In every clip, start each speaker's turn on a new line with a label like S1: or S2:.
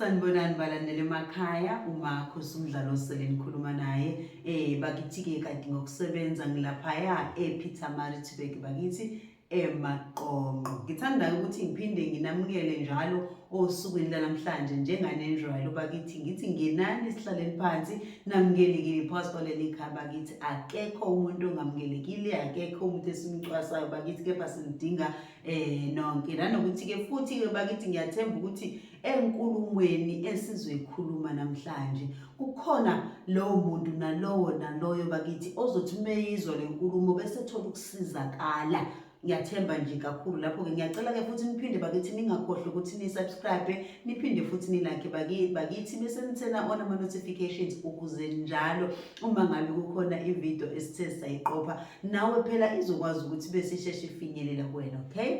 S1: sanibonani balandela emakhaya umakho sumdlalo osele nikhuluma naye um bakithi-ke kade ngokusebenza ngilaphaya epeter maritburg bakithi emaqonqo ngithanda ukuthi ngiphinde nginamukele njalo osukwini lanamhlanje njenganenjwayelo bakithi ngithi ngenani sihlaleni phansi namukelekile phakathi kwaleli khaya bakithi akekho umuntu ongamukelekile akekho umuntu esimcwasayo bakithi kepha sinidinga um nonke nanokuthi-ke futhi-ke bakithi ngiyathemba ukuthi enkulumweni esizoyikhuluma namhlanje kukhona lowo muntu nalowo naloyo bakithi ozothi umeyizwa le nkulumo bese thola ukusizakala ngiyathemba nje kakhulu lapho-ke ngiyacela-ke futhi niphinde bakithi ningakhohlwa ukuthi ni-subscribe niphinde futhi nilakhe bakithi bese nithena on ama-notifications ukuze njalo uma ngabe kukhona ividiyo esithe sayiqopha nawe phela izokwazi ukuthi besisheshe ifinyelela kuwena okay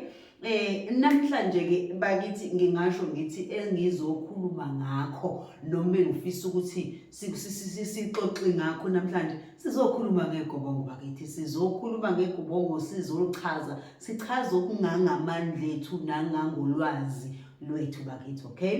S1: Eh namhlanje ke bakithi ngingasho ngithi engizokhuluma ngakho noma ngifisa ukuthi sixoxe ngakho namhlanje sizokhuluma ngegobongo bakithi sizokhuluma ngegobongo sizoluchaza sichaze okungangamandla ethu nangangolwazi lwethu bakithi okay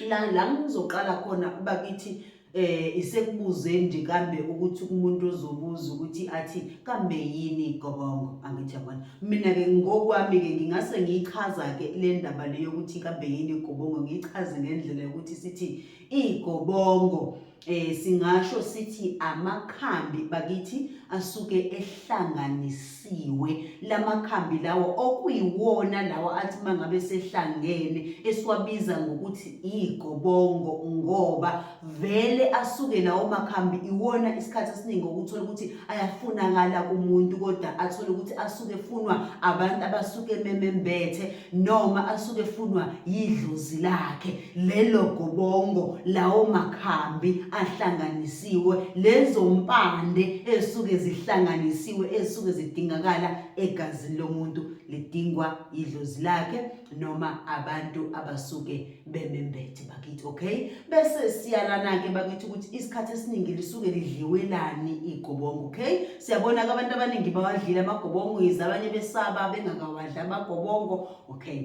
S1: la la ngizoqala khona bakithi eh isekubuze nje kambe ukuthi umuntu ozobuza ukuthi athi kambe yini igobongo angithi yabona mina ke ngokwami ke ngingase ngiyichaza ke le ndaba le yokuthi kambe yini igobongo ngiyichaze ngendlela yokuthi sithi Igobongo eh singasho sithi amakhambi bakithi asuke ehlanganisiwe lamakhambi lawo okuyiwona lawo athi mangabe sehlangene esiwabiza ngokuthi igobongo ngoba vele asuke lawo makhambi iwona isikhathi esiningi ukuthola ukuthi ayafunakala kumuntu kodwa athole ukuthi asuke funwa abantu abasuke memembethe noma asuke efunwa yidlozi lakhe lelo gobongo lawo makhambi ahlanganisiwe lezo mpande esuke zihlanganisiwe esuke zidingakala egazini lomuntu lidingwa yidlozi lakhe noma abantu abasuke bemembethe bakithi okay bese siyalana-ke bakithi ukuthi isikhathi esiningi lisuke lidliwelani igobongo okay siyabona-ke abantu abaningi bawadlile amagobongo yize abanye besaba bengakawadli amagobongo okay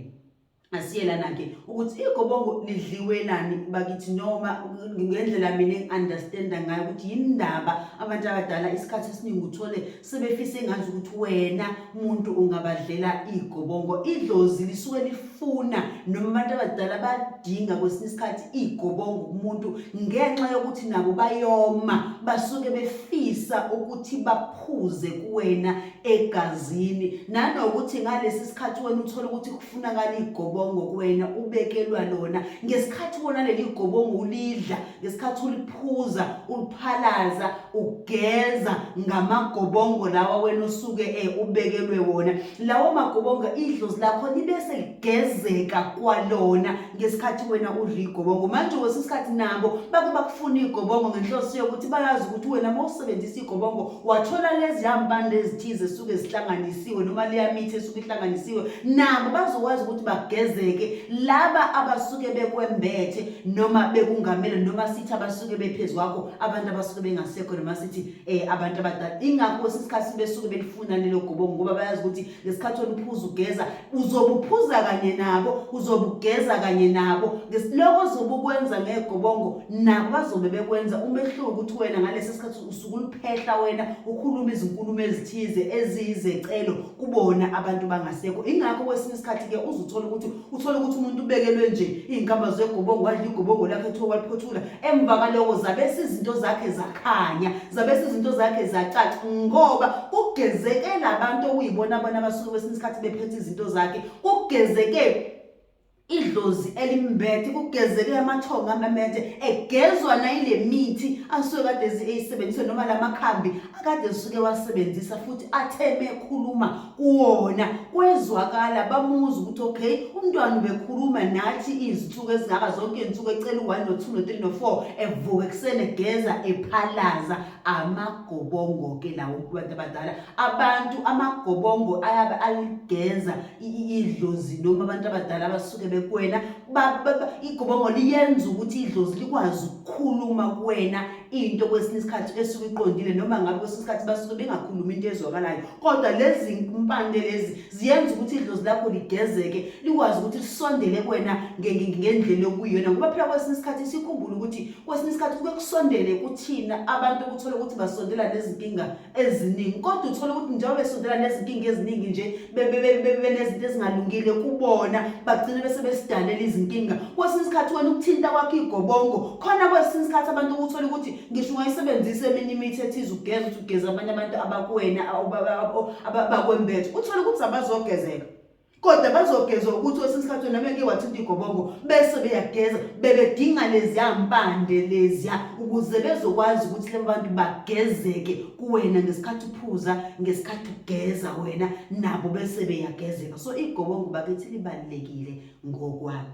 S1: asiyelana-ke ukuthi igobongo lidliwelani bakithi noma ngendlela mina engi-understanda ngayo ukuthi yini ndaba abantu abadala isikhathi esiningi uthole sebefisa engazi ukuthi wena muntu ungabadlela igobongo idlozi lisuke lifuna noma abantu abadala badinga kwesinye isikhathi igobongo kumuntu ngenxa yokuthi nabo bayoma basuke befisa ukuthi baphuze kuwena egazini nanokuthi ngalesi sikhathi wena uthole ukuthi kufunakala igobongo kuwena ubekelwa lona ngesikhathi wona leli gobongo ulidla ngesikhathi uliphuza uliphalaza ugeza ngamagobongo lawa wena osuke e ubekelwe wona lawo magobongo idlozi lakho libe seligezeka kwalona ngesikhathi wena udla igobongo manje kwesinye isikhathi nabo bake bakufuna igobongo ngenhloso yokuthi bayazi ukuthi wena uma usebenzisa igobongo wathola lezi hambande ezithize esuke zihlanganisiwe noma liyamithi esuke ihlanganisiwe nabo bazokwazi ukuthi bagezeke laba abasuke bekwembethe noma bekungamele noma sithi abasuke bephezu kwakho abantu abasuke bengasekho noma sithi um abantu abadala ingakho kwesinye isikhathi besuke belifuna lelo gobongo ngoba bayazi ukuthi ngesikhathi oluphuza ugeza uzobuphuza kanye nabo uzobugeza kanye nabo loko ozobe ukwenza ngegobongo nabo bazobe bekwenza umehluko ukuthi wena ngalesi sikhathi usuke uliphehla wena ukhuluma izinkulumo ezithize eziyizecelo kubona abantu bangasekho ingakho kwesinye isikhathi ke uzuthola ukuthi uthola ukuthi umuntu ubekelwe nje izinkamba zegobongo wadla igobongo lakhe kuthiwa waliphothula emva kaloko zabese izinto zakhe zakhanya zabese izinto zakhe zacaca ngoba kugezeke labantu okuyibona bona abasuke kwesinye isikhathi bephethe izinto zakhe kugezeke idlozi elimbethe kugezeke amathongo amamede egezwa nayile mithi asuke kade eyisebenzise noma la makhambi akade esuke wasebenzisa futhi atheme ekhuluma kuwona kwezwakala bamuzi ukuthi okay umntwana ubekhuluma nathi izinsuku ezingaba zonke izinsuku ecela u-one no-two no-three no-four evuka ekuseni egeza ephalaza amagobongo ke lawo kubantu abadala abantu amagobongo ayabe aligenza idlozi noma abantu abadala abasuke bekwena igobongo liyenza ukuthi idlozi likwazi ukukhuluma kuwena into kwesinye isikhathi esuke iqondile noma ngabe kwesinye isikhathi basuke bengakhulumi into ezwakalayo kodwa lezi mpande lezi ziyenza ukuthi idlozi lakho ligezeke likwazi ukuthi lisondele kuwena ngendlela okuyiyona ngoba phela kwesinye isikhathi sikhumbule ukuthi kwesinye isikhathi kuke kusondele kuthina abantu ukuthola ukuthi basondela nezinkinga eziningi kodwa uthole ukuthi njengoba besondela nezinkinga eziningi nje benezinto ezingalungile kubona bagcine bese besidalela izinkinga kwesinye isikhathi wena ukuthinta kwakho igobongo khona kwesinye isikhathi abantu ukuthola ukuthi ngisho ungayisebenzisa eminye imithi ethize ugeza ukuthi ugeza abanye abantu abakuwena abakwembethe uthole ukuthi abazogezeka kodwa bazogezwa ukuthi kwesinye isikhathi wena beke wathinta igobongo bese beyageza bebedinga leziya mpande leziya ukuze bezokwazi ukuthi laba bantu bagezeke kuwena ngesikhathi uphuza ngesikhathi ugeza wena nabo bese beyagezeka so igobongo bakithi libalulekile ngokwami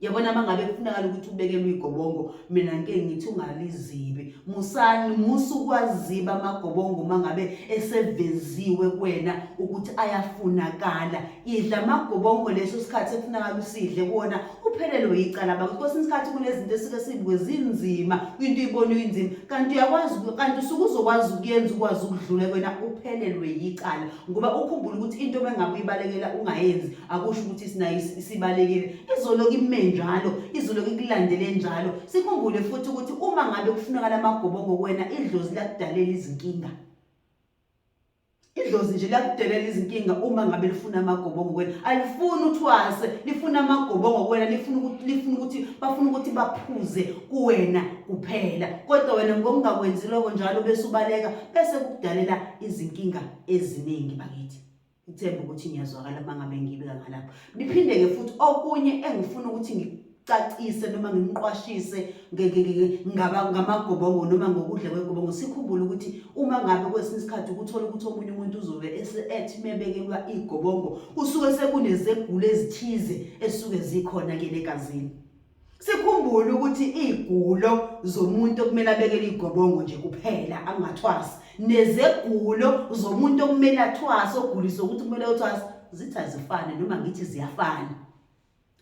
S1: yabona uma ngabe kufunakala ukuthi ubekelwe igobongo mina ngike ngithi ungalizibi musani musu kwaziba amagobongo uma ngabe eseveziwe kwena ukuthi ayafunakala idla amagobongo leso sikhathi ekufunakala usidle kuwona uphelelwe yicala bakuthi kwesinye isikhathi kunezinto esike sibuke zinzima into ibona uyinzima kanti uyakwazi kanti usuke uzokwazi ukuyenza ukwazi ukudlula kwena uphelelwe yicala ngoba ukhumbula ukuthi into uma ngabe uyibalekela ungayenzi akusho ukuthi sinayo isibalekile izoloku ime njalo izoloku ikulandele njalo sikhumbule futhi ukuthi uma ngabe kufunakala amagobongo kuwena idlozi lakudalela izinkinga idlozi nje lakudelela izinkinga uma ngabe lifuna amagobongo kuwena alifuni uthwase lifuna amagobongo kuwena lifuna ukuthi lifuna ukuthi bafuna ukuthi baphuze kuwena kuphela kodwa wena ngokungakwenzi lokho njalo bese ubaleka bese kukudalela izinkinga eziningi bakithi ngithemba ukuthi ngiyazwakala uma ngabe ngibika ngalapho ngiphinde-ke futhi okunye engifuna ukuthi ngicacise noma ngimqwashise ngamagobongo noma ngokudla kwegobongo sikhumbule ukuthi uma ngabe kwesinye isikhathi ukuthola ukuthi omunye umuntu uzobe ethi mebekelwa igobongo kusuke sekunezegulo ezithize esuke zikhona-ke negazini sikhumbule ukuthi igulo zomuntu okumele abekele igobongo nje kuphela angathwasi nezegulo zomuntu okumele athwase ogulisa ukuthi kumele uthwase zithi azifane noma ngithi ziyafana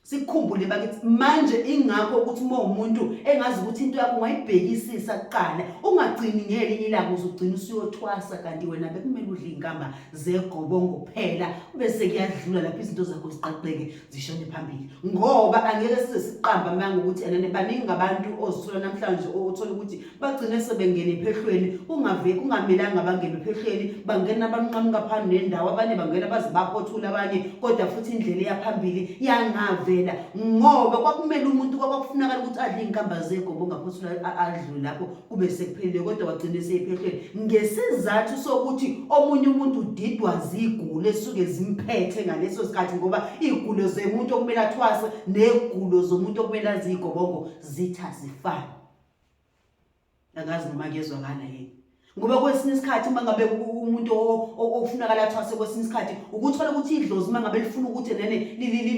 S1: sikhumbule bakithi manje ingakho ukuthi uma umuntu engazi ukuthi into yakho ungayibhekisisa kuqala ungagcini ngelinye ilanga uzogcina usuyothwasa kanti wena bekumele udle inkamba zegobongo kuphela bese kuyadlula lapho izinto zakho ziqaqeke zishone phambili ngoba angeke size siqamba amanga ukuthi enene baningi abantu ozithola namhlanje othola ukuthi bagcine sebengene ephehlweni kungave kungamelanga bangene ephehlweni bangena abanqamuka phambili nendawo abanye bangena baze baphothula abanye kodwa futhi indlela eyaphambili yangavela ngoba kwakumele umuntu kwakwakufunakala ukuthi adle iy'nkamba zegobo ongaphothula adlule lapho kube sekuphelile kodwa wagcina eseyiphehlweni ngesizathu sokuthi omunye umuntu udidwa zigulo esuke zimphethe ngaleso sikhathi ngoba igulo zemuntu okumele athwase negulo zomuntu okumele azigobongo zitha zifana akazi noma kuyezwakala yini ngoba kwesinye isikhathi uma ngabe umuntu okufunakala athwase kwesinye isikhathi ukuthola ukuthi idlozi uma ngabe lifuna ukuthi nene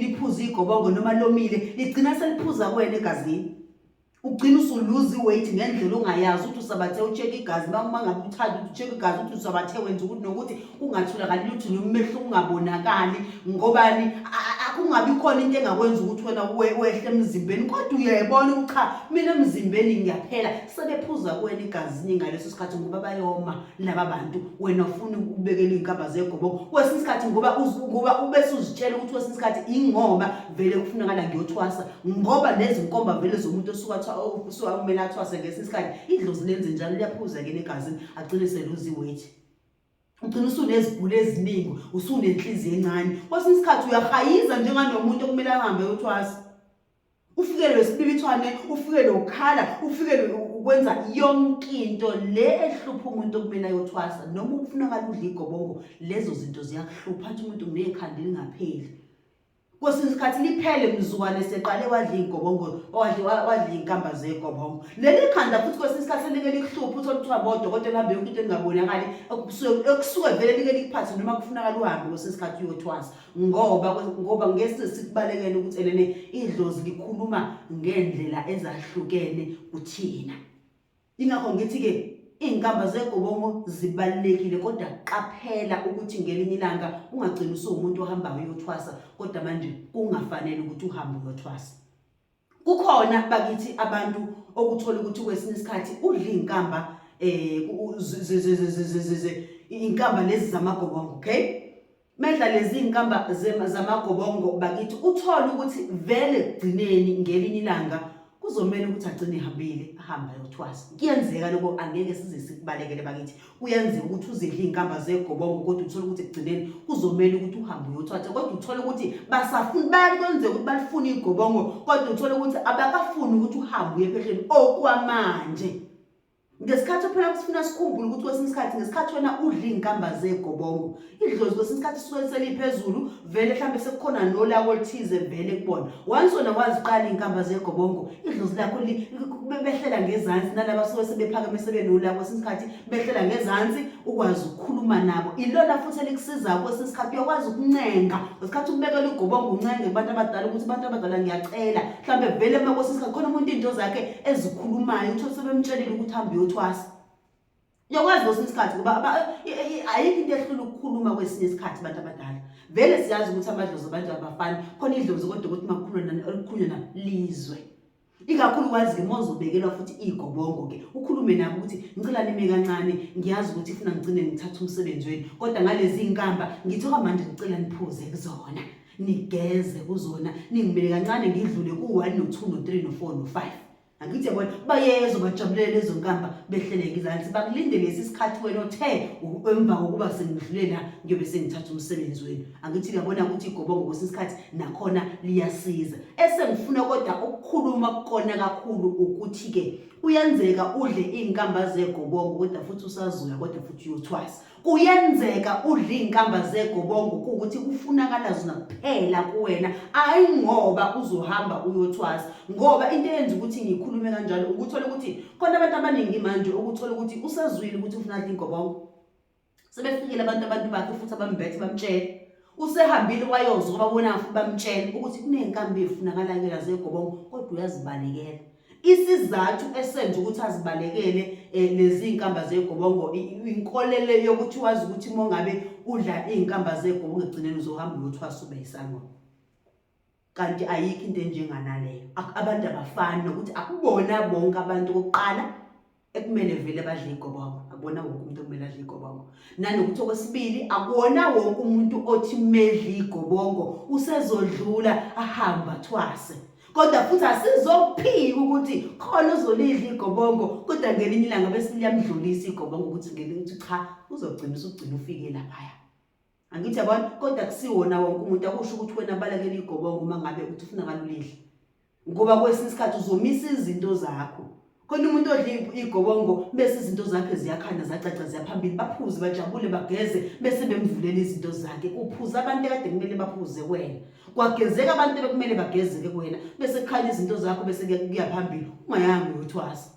S1: liphuze igobongo noma lomile ligcina seliphuza kwena egazini ugcina usuluza iweight ngendlela ongayazi ukuthi usabathe ucheck igazi uma uma ngabe uthanda ukuthi ucheck igazi ukuthi usabathe wenza ukuthi nokuthi kungatholakali lutho noma umehluko ungabonakali ngobani kungabi khona into engakwenza ukuthi wena wehle emzimbeni kodwa uyayibona ukuthi cha mina emzimbeni ngiyaphela sebephuza kuwena igazini ngaleso sikhathi ngoba bayoma laba bantu wena ufuna ukubekela iy'nkaba zegoboko kwesinye isikhathi ngoba ngoba ubese uzitshela ukuthi kwesinye isikhathi ingoba vele kufunakala ngiyothwasa ngoba nezinkomba vele zomuntu osuka usuka kumele athwase ngesinye isikhathi idlozi lenze njalo liyaphuza ke negazini agcine seluzi weight ugcina usuneziguli eziningi usunenhliziyo encane kwesinye isikhathi uyahayiza njenganomuntu okumele ahambe yothwasa ufikelwe isibibithwane ufikelwe ukukhala ufikelwe ukwenza yonke into le ehlupha umuntu okumele ayothwasa noma ukufunakala udla igobongo lezo zinto ziyakuhlupha athi umuntu ngekhanda elingapheli kwesinye isikhathi liphele mzukwane eseqale wadla iy'gobongo wadle wa- wadla iy'nkamba zegobongo leli khanda futhi kwesinye isikhathi selike likuhluphe uthole kuthiwa bodokotela hambe yonke into engabonakali okusuke- okusuke vele like likuphathe noma kufunakala uhambe kwesinye isikhathi uyothwasa ngoba kwe- ngoba ngesi sikubalekele ukuthi elene idlozi likhuluma ngey'ndlela ezahlukene kuthina Ingakho ngithi-ke iy'nkamba zegobongo zibalulekile kodwa qaphela ukuthi ngelinye ilanga ungagcina usuwumuntu ohambayo uyothwasa kodwa manje kungafanele ukuthi uhambe uyothwasa kukhona bakithi abantu okuthola ukuthi kwesinye isikhathi udla iy'nkamba um inkamba lezi zamagobongo okay Medla lezi nkamba zamagobongo bakithi uthole ukuthi vele kugcineni ngelinye ilanga kuzomele ukuthi agcine ehambile ahambe ayothwasa kuyenzeka lokho angeke size sikubalekele bakithi kuyenzeka ukuthi uzidle iy'nkamba zegobongo kodwa uthole ukuthi ekugcineni kuzomele ukuthi uhambe uyothwasa kodwa uthole ukuthi basafuni bayakwenzeka ukuthi balifune igobongo kodwa uthole ukuthi abakafuni ukuthi uhambe uye phehleni okwamanje ngesikhathi phela kusifuna sikhumbule ukuthi kwesinye isikhathi ngesikhathi wena udla iy'nkamba zegobongo idlozi kwesinye isikhathi suke seliphezulu vele mhlawumbe sekukhona nolako oluthize vele kubona once wena waziqala iy'nkamba zegobongo idlozi lakho behlela ngezansi nalaba suke sebephakeme sebenolako kwesinye isikhathi behlela ngezansi ukwazi ukukhuluma nabo ilona futhi elikusizayo kwesinye isikhathi uyakwazi ukuncenga ngesikhathi ukubekela ugobongo uncenge kubantu abadala ukuthi abantu abadala ngiyacela mhlawumbe vele uma kwesinye isikhathi khona umuntu iy'nto zakhe ezikhulumayo utho sebemtshelile ukuthi hambe uyothwasa uyakwazi kwesinye isikhathi ngoba ayikho into ehlula ukukhuluma kwesinye isikhathi abantu abadala vele siyazi ukuthi amadlozi abantu abafani khona idlozi kodwa ukuthi makukhulunywa lizwe ikakhulu wazi-ke uma uzobekelwa futhi iy'gobongo-ke ukhulume nabo ukuthi ngicela nime kancane ngiyazi ukuthi funa ngigcine ngithatha umsebenzi wenu kodwa ngalezi y'nkamba ngithoka manje ngicela niphuze kuzona nigeze kuzona ningimele kancane ngidlule ku-one no-two no-three no-four no-five angithi yabona bayezo bajabulele lezo nkamba behleleke izansi bakulinde lesi sikhathi wena othe emva kokuba sengidlule la ngiyobe sengithatha umsebenzi wenu angithi ngiyabona ukuthi igobongo kwesinye isikhathi nakhona liyasiza esengifuna kodwa ukukhuluma kukona kakhulu ukuthi-ke kuyenzeka udle iy'nkamba zegobongo kodwa futhi usazoya kodwa futhi uyothwasa kuyenzeka udla iy'nkamba zegobongo kuwukuthi kufunakala zona kuphela kuwena hhayi ngoba uzohamba uyothwasa ngoba into eyenza ukuthi ngikhulume kanjalo ukuthola ukuthi khona abantu abaningi manje ukuthola ukuthi usazwile ukuthi ufuna adla ingobongo sebefikile abantu abantu bakhe futhi abambethe bamtshele usehambile wayozwa kwababonanga futhi bamtshela ukuthi kuney'nkambi efunakalayo zegobongo kodwa uyazibalekela isizathu esenza ukuthi azibalekele eh, lezi iy'nkamba zegobongo inkolelo yokuthi wazi ukuthi uma ngabe udla iy'nkamba zegobongo ekugcineni uzohamba uyothwasa ube yisangoma kanti ayikho into enjenganaleyo abantu abafani nokuthi akubona bonke abantu kokuqala ekumele vele badle igobongo akubona wonke umuntu okumele adle igobongo nanokuthi okwesibili akuwona wonke umuntu othi medle igobongo usezodlula ahamba thwase kodwa futhi asizophika ukuthi khona uzolidla igobongo kodwa ngelinye ilanga bese liyamdlulisa igobongo ukuthi ngelinye ukuthi cha uzogcina usugcina ufike laphaya angithi yabona kodwa kusiwona wonke umuntu akusho ukuthi wena balekela igobongo uma ngabe uthi ufuna balulidle ngoba kwesinye isikhathi uzomisa izinto zakho khona umuntu odla igobongo bese izinto zakhe ziyakhanya zacaca ziyaphambili baphuze bajabule bageze bese bemvulela izinto zakhe kuphuza abantu ekade kumele baphuze kwena kwagezeka abantu bekumele bagezeke kwena bese kukhanya izinto zakho bese kuyaphambili ungayanga uyothwasa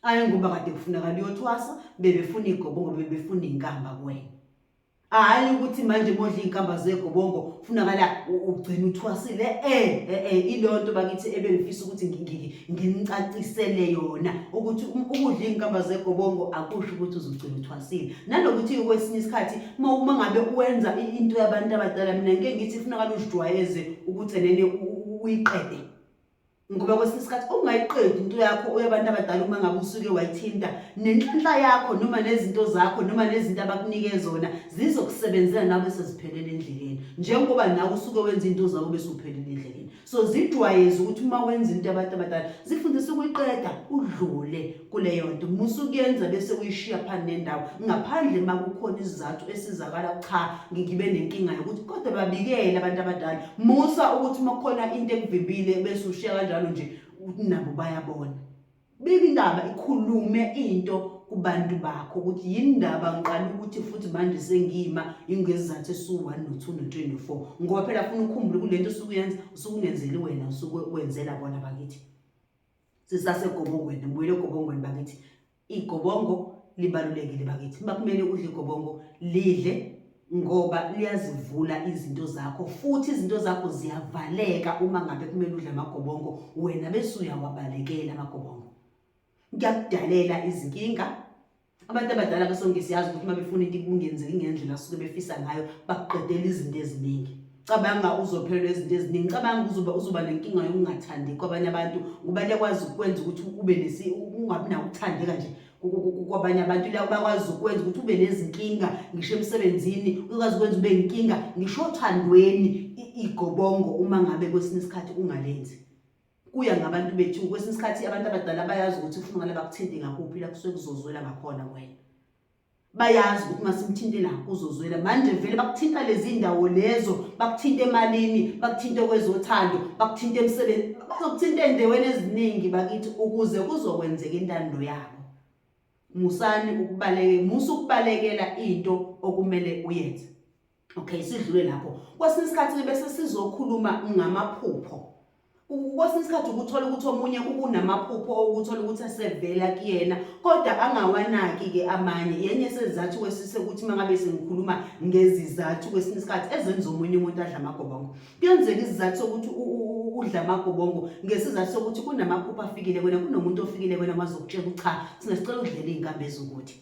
S1: ayi ngoba kade kufunakala uyothwasa bebefuna igobongo bebefuna inkamba kuwena hayi ukuthi manje modla izinkamba zegobongo kufunakala ugcina uthwasile eh eh, eh ilonto bakithi ebengifisa ukuthi nginicacisele yona ukuthi um, ukudla izinkamba zegobongo akusho ukuthi uzogcina uthwasile nalokuthi kwesinye isikhathi uma ngabe uwenza into yabantu abadala mina ngeke ngithi kufunakala uzijwayeze ukuthi enene uyiqede ngoba kwesinye isikhathi ungayiqedi into yakho uyabantu abadala uma ngabe usuke wayithinta nenhlanhla yakho noma nezinto zakho noma nezinto abakunike zona zizokusebenzela nawe seziphelele endleleni njengoba nawe usuke wenza into zabo bese uphelele endleleni so zijwayeze ukuthi uma wenza into abantu abadala zifundise ukuyiqeda udlule kuleyo nto musa ukuyenza bese uyishiya phansi nendawo ngaphandle uma kukhona isizathu esizakala cha ngibe nenkinga yokuthi kodwa babikele abantu abadala musa ukuthi uma kukhona into ekuvimbile bese ushiya kanjalo nje nabo bayabona bika indaba ikhulume into kubantu bakho ukuthi yindaba ngiqala ukuthi futhi manje sengima ingezizathu esiwu-1 no-2 no-24 ngoba phela funa ukhumbule kule nto usuke uyenza usuke ungenzeli wena usuke wenzela bona bakithi sisasegobongweni ngibuyele egobongweni bakithi igobongo libalulekile bakithi uma kumele udle igobongo lidle ngoba liyazivula izinto zakho futhi izinto zakho ziyavaleka uma ngabe kumele udle amagobongo wena bese uyawabalekela amagobongo ngiyakudalela izinkinga abantu abadala besonke siyazi ukuthi uma befuna into kungenzeki ngendlela asuke befisa ngayo bakuqedela izinto eziningi cabanga uzophelelwa izinto eziningi cabanga uzoba uzoba nenkinga yokungathandi kwabanye abantu ngoba liyakwazi ukwenza ukuthi ube nesi ungabi nawo ukuthandeka nje kwabanye abantu la bakwazi ukwenza ukuthi ube nezinkinga ngisho emsebenzini ukwazi ukwenza ube inkinga ngisho othandweni igobongo uma ngabe kwesinye isikhathi ungalenzi kuya ngabantu bethu kwesinye isikhathi abantu abadala bayazi ukuthi ufuna ngale bakuthinte ngakuphi la kusuke kuzozwela ngakhona wena bayazi ukuthi masimthinte la kuzozwela manje vele bakuthinta lezi ndawo lezo bakuthinta emalini bakuthinta kwezothando bakuthinta emsebenzi bazokuthinta endaweni eziningi bakithi ukuze kuzokwenzeka intando yabo musani ukubaleke musa ukubalekela into okumele uyenze okay sidlule lapho kwesinye isikhathi bese sizokhuluma ngamaphupho kwesinye isikhathi ukuthola ukuthi omunye ukunamaphupho okuthola ukuthi asevela kuyena kodwa angawanaki-ke amanye yenye sezizathu kwesise ukuthi uma ngabe sengikhuluma ngezizathu kwesinye isikhathi ezenza omunye umuntu adla amagobongo kuyenzeka izizathu sokuthi udla amagobongo ngesizathu sokuthi kunamaphupho afikile kwena kunomuntu ofikile kwena wazokutshela ukuthi cha singasicela udlela iy'nkambi ezukuthi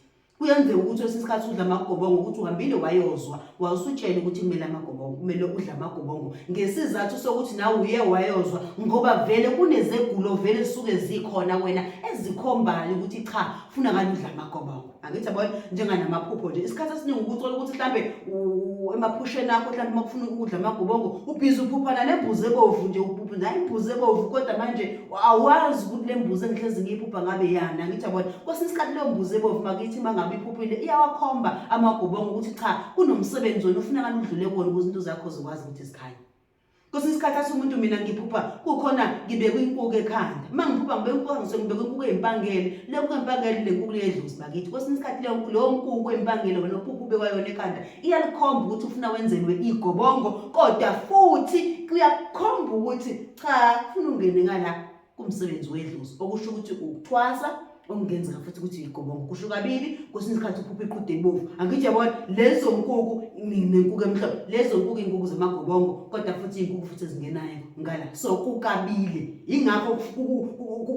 S1: kuyenzeka ukuthi kwesinye isikhathi udla amagobongo ukuthi uhambile wayozwa wawusutshela ukuthi kumele amagobongo kumele udle amagobongo ngesizathu sokuthi nawe uye wayozwa ngoba vele kunezegulo vele zisuke zikhona wena ezikhombayo ukuthi cha funa ngani udla amagobongo angithi yabona njenganamaphupho nje isikhathi esiningi ukuthola ukuthi mhlawumbe emaphusheni akho mhlawumbe uma kufuna ukudla amagobongo ubhizi uphuphana nembuzi ebovu nje uphupha nayo imbuzi ebovu kodwa manje awazi ukuthi le mbuzi engihlezi ngiyiphupha ngabe yani angithi yabona kwesinye isikhathi leyo mbuzi ebovu makithi uma ngabe iphuphile iyawakhomba amagobongo ukuthi cha kunomsebenzi wena ufuna kani udlule kuwona ukuze into zakho zikwazi ukuthi zikhanye kwesinye isikhathi athi umuntu mina ngiphupha kukhona ngibekwe inkuku ekhanda uma ngiphupha ngibeke inkuku ngisuke ngibekwe inkuku eyimpangele le nkuku eyimpangele le nkuku leyedluzi bakithi kwesinye isikhathi leyo nkuku eyimpangele wena uphupha ubekwayona ekhanda iyalikhomba ukuthi ufuna wenzelwe igobongo kodwa futhi kuyakukhomba ukuthi cha funa ungene ngala kumsebenzi wedlozi okusho ukuthi ukuthwasa okungenzeka futhi ukuthi yigobongo kusho kabili kwesinye isikhathi uphupha iqhude ebovu angithi yabona lezo nkuku nenkuku emhlophe lezo nkuku iy'nkuku zamagobongo kodwa futhi iy'nkuku futhi ezingenayo ngala so kukabili yingakho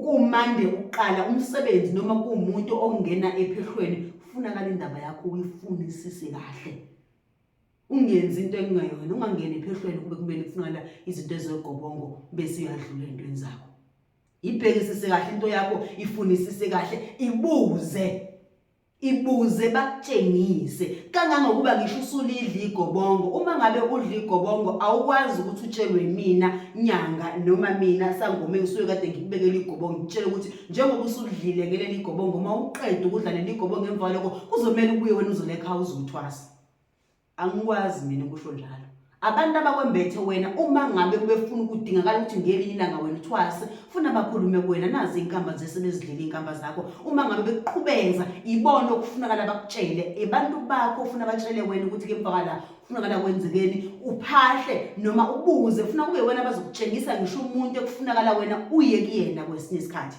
S1: kumande ukuqala umsebenzi noma kuwumuntu ongena ephehlweni kufunakala indaba yakho uyifunisise kahle ungenzi into engingayona ungangeni ephehlweni kube kumele kufunakala izinto ezogobongo bese uyadlula entweni zakho ibhekisise kahle into yakho ifunisise kahle ibuze ibuze bakutshengise kangangokuba ngisho usulidla igobongo uma ngabe udla igobongo awukwazi ukuthi utshelwe mina nyanga noma mina sangoma engisuke kade ngikubekela igobongo ngitshele ukuthi njengoba usudlile ngeleli igobongo uma uqeda ukudla leli igobongo emva kwaloko kuzomela ubuye wena uzolekha uzothwasa angikwazi mina kusho njalo abantu abakwembethe wena uma ngabe kubefuna ukudingakala ukuthi ngelinye ilanga wena uthwase funa bakhulume kuwena nazi inkamba zesebezidlile inkamba zakho uma ngabe bekuqhubeza ibona okufunakala bakutshele abantu bakho ufuna batshele wena ukuthi ke mpakala kufunakala kwenzekeni uphahle noma ubuze funa kube wena bazokutshengisa ngisho umuntu ekufunakala wena uye kuyena kwesinye isikhathi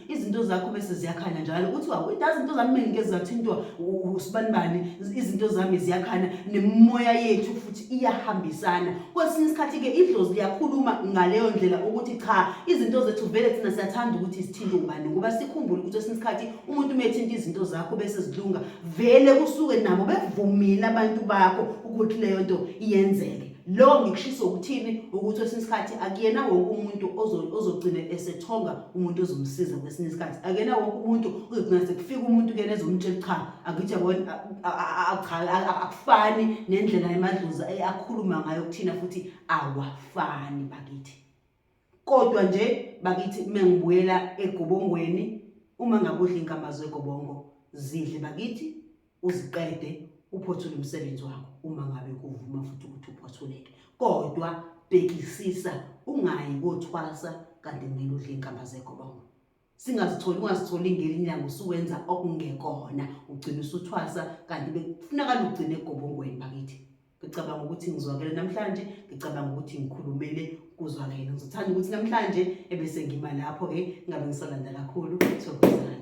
S1: izinto zakho bese ziyakhanya njalo uthi wawo idazi izinto zami mina ngeke zathintwa usibanibani izinto zami ziyakhanya nemimoya yethu futhi iyahambisana kwesinye isikhathi-ke idlozi liyakhuluma ngaleyo ndlela ukuthi cha izinto zethu vele thina siyathanda ukuthi sithinte ubani ngoba sikhumbule ukuthi esinye isikhathi umuntu uma ethinta izinto zakho bese zilunga vele kusuke nabo bevumile abantu bakho ukuthi leyo nto iyenzeke Lo ngikushisa ukuthini ukuthi kwesinye isikhathi akuyena wonke umuntu ozogcina esethonga umuntu ozomsiza kwesinye isikhathi akuyena wonke umuntu uzogcina sekufika umuntu kuyena ezomtshela cha akuthi akufani nendlela emadlozi akhuluma ngayo kuthina futhi awafani bakithi kodwa nje bakithi uma ngibuyela egobongweni uma ngabe udla inkamba zegobongo zidle bakithi uziqede uphothule umsebenzi wakho uma ngabe kuvuma futhi ukuthi uphothuleke kodwa bhekisisa ungayi kothwasa kanti kumele udle inkamba zegobongo singazitholi ungazitholi ngelinyango usuwenza okungekona ugcina usuthwasa kanti bekufunakala ugcine egobongweni bakithi ngicabanga ukuthi ngizwakele namhlanje ngicabanga ukuthi ngikhulumele kuzwakele ngizothanda ukuthi namhlanje ebese ngima lapho-ke ngabe ngisalanda kakhulu thokozani